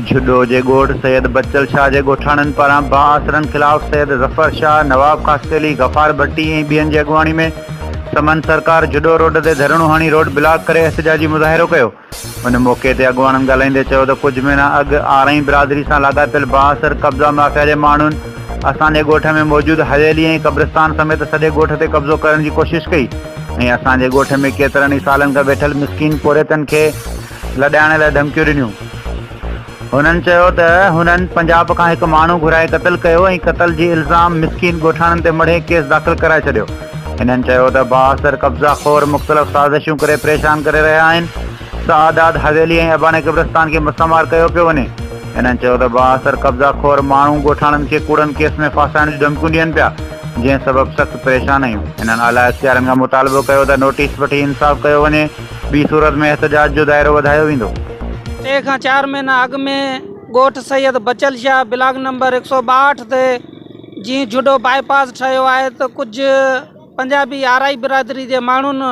جھڏو جي ڳوٺ سيد بچل شاهه جي ڳوٺاڻن پاران بااثرن خلاف سيد ظفر شاهه، نواب خاصخيلي، غفار ڀٽي ۽ ٻين جي اڳواڻي ۾ سمن سرڪار جھڏو روڊ تي ڌرڻو هڻي روڊ بلاڪ ڪري احتجاجي مظاهرو ڪيو. ان موقعي تي اڳواڻن ڳالهائيندي چيو ته ڪجهه مهينا اڳ آرائين برادري سان لاڳاپيل بااثر قبضا مافيا جي ماڻهن اسان جي ڳوٺ ۾ موجود حويلي ۽ قبرستان سميت سڄي ڳوٺ تي قبضو ڪرڻ جي ڪوشش ڪئي ۽ اسان جي ڳوٺ ۾ ڪيترن ئي سالن کان ويٺل مسڪين پورهيتن کي لڏائڻ لاء ڌمڪيون ڏنيون. هنن چيو ته هنن پنجاب کان هڪ ماڻهو گهرائي قتل ڪيو ۽ قتل جي الزام مسڪين ڳوٺاڻن تي مڙهي ڪيس داخل ڪرائي ڇڏيو. هنن چيو ته بااثر قبضا خور مختلف سازشون ڪري پريشان ڪري رهيا آهن، سعادات حويلي ۽ اباڻي قبرستان کي مسمار ڪيو پيو وڃي. هنن چيو ته بااثر قبضا خور ماڻهو ڳوٺاڻن کي ڪوڙن ڪيس ۾ ڦاسائڻ جون ڌمڪيون ڏين پيا، جنهن سبب سخت پريشان آهيون. هنن اعليٰ اختيارين کان مطالبو ڪيو ته نوٽيس وٺي انصاف ڪيو وڃي. ٻي صورت ۾ احتجاج جو دائرو وڌايو ويندو. ٽي کان چار مهينا اڳ ۾ ڳوٺ سيد بچل شاهه بلاڪ نمبر هڪ سؤ ٻاهٺ تي جيئن جهڏو بائي پاس ٺهيو آهي ته ڪجهه پنجابي آرائي برادري جي ماڻهن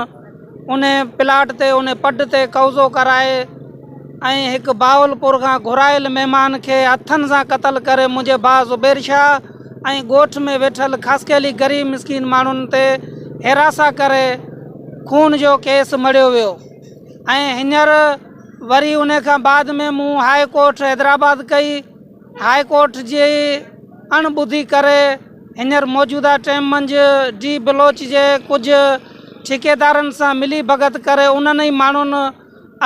انهي پلاٽ تي انهي پڊ تي قوضو ڪرائي ۽ هڪ بهاولپور کان گهرايل مهمان کي هٿن سان قتل ڪري منهنجي ڀاء زبير شاهه ۽ ڳوٺ ۾ ويٺل خاصخيلي غريب مسڪين ماڻهن تي هراسان ڪري خون جو ڪيس مڙهيو ويو ۽ هينئر وري ان کان بعد ۾ مون هاء ڪورٽ حيدرآباد ڪئي هاء ڪورٽ جي اڻ ٻڌي ڪري هينئر موجوده ٽيم منجهه ڊي بلوچ جي ڪجهه ٺيڪيدارن سان ملي ڀڳت ڪري انهن ئي ماڻهن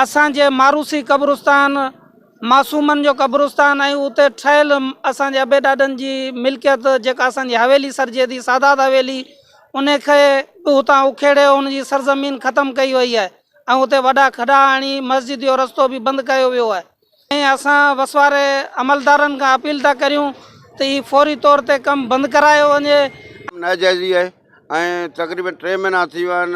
اسان جي ماروثي قبرستان معصومن جو قبرستان ۽ اتي ٺهيل اسان جي ابي ڏاڏن جي ملڪيت جيڪا اسان جي حويلي سڏجي ٿي سادات حويلي ان کي به اتان اکيڙي ان جي سرزمين ختم ڪئي وئي آهي ۽ اتي وڏا کڏا هڻي مسجد جو رستو به بند ڪيو ويو آهي ۽ اسان وس واري عملدارن کان اپيل ٿا ڪريون ته هي فوري طور تي ڪم بند ڪرايو وڃي. ڪم ناجائز ئي آهي ۽ تقريبن ٽي مهينا ٿي ويا آهن